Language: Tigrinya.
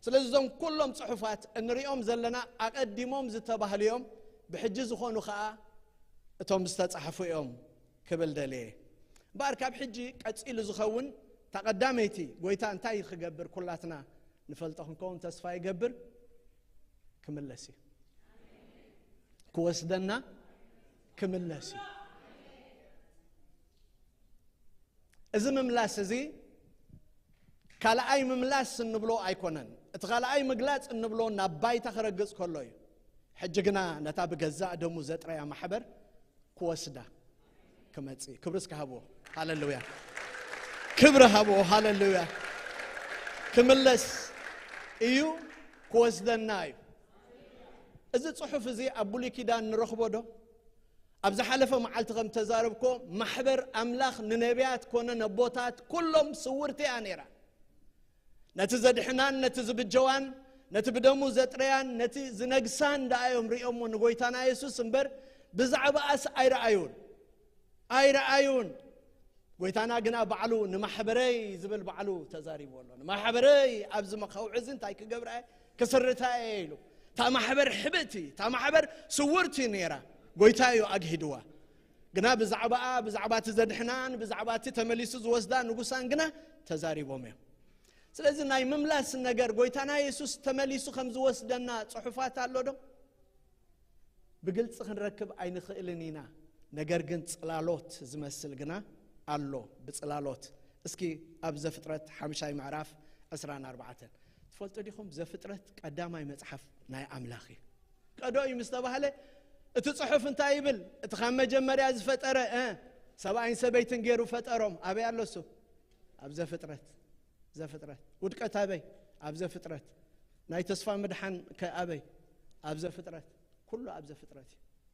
ስለዚ እዞም ኩሎም ፅሑፋት እንሪኦም ዘለና ኣቐዲሞም ዝተባህሉ እዮም ብሕጂ ዝኾኑ ከዓ እቶም ዝተፃሕፉ እዮም ክብል ደልየ እምበኣር ካብ ሕጂ ቀፂሉ ዝኸውን እታ ቀዳመይቲ ጎይታ እንታይ ክገብር ኩላትና ንፈልጦ ክንከውን ተስፋ ይገብር ክምለስ እዩ ክወስደና ክምለስ እዩ እዚ ምምላስ እዚ ካልኣይ ምምላስ እንብሎ ኣይኮነን እቲ ካልኣይ ምግላፅ እንብሎ ናብ ባይታ ክረግፅ ከሎ እዩ ሕጂ ግና ነታ ብገዛእ ደሙ ዘጥረያ ማሕበር ክወስዳ ክመፅእ ክብሪ እስከ ሃብዎ ሃለሉያ ክብሪ ሃብዎ ሃለሉያ ክምለስ እዩ ክወስደና እዩ እዚ ፅሑፍ እዚ ኣብ ብሉይ ኪዳን ንረኽቦ ዶ ኣብ ዝሓለፈ መዓልቲ ከም ተዛረብኮ ማሕበር ኣምላኽ ንነቢያት ኮነ ነቦታት ኩሎም ስውርቲ እያ ነይራ ነቲ ዘድሕናን ነቲ ዝብጀዋን ነቲ ብደሙ ዘጥረያን ነቲ ዝነግሳን ደኣ እዮም ርእዮሞ ንጎይታና የሱስ እምበር ብዛዕባኣስ ኣይረኣዩን ኣይረኣዩን ጎይታና ግና ባዕሉ ንማሕበረይ ዝብል ባዕሉ ተዛሪቡ ኣሎ ንማሕበረይ ኣብዚ መኸውዒ እዚ እንታይ ክገብርኣየ ክስርታ እየ ኢሉ እታ ማሕበር ሕብእቲ እታ ማሕበር ስውርቲ ነይራ ጎይታ እዩ ኣግሂድዋ ግና ብዛዕባኣ ብዛዕባ እቲ ዘድሕናን ብዛዕባ እቲ ተመሊሱ ዝወስዳ ንጉሳን ግና ተዛሪቦም እዮም ስለዚ ናይ ምምላስ ነገር ጎይታና የሱስ ተመሊሱ ከም ዝወስደና ጽሑፋት ኣሎ ዶ ብግልጺ ክንረክብ ኣይንኽእልን ኢና ነገር ግን ጽላሎት ዝመስል ግና ኣሎ ብጽላሎት እስኪ ኣብ ዘፍጥረት ሓምሻይ ምዕራፍ ዕስራን ኣርባዕተን ትፈልጡ ዲኹም ዘፍጥረት ቀዳማይ መጽሓፍ ናይ ኣምላኽ እዩ ቀዶ እዩ ምስ ተባህለ እቲ ጽሑፍ እንታይ ይብል እቲ ካብ መጀመርያ ዝፈጠረ ሰብኣይን ሰበይትን ገይሩ ፈጠሮም ኣበይ ኣሎ እሱ ኣብ ዘፍጥረት ዘፍጥረት ውድቀት ኣበይ ኣብ ዘፍጥረት ናይ ተስፋ ምድሓን ከ ኣበይ ኣብ ዘፍጥረት ኩሉ ኣብ ዘፍጥረት እዩ።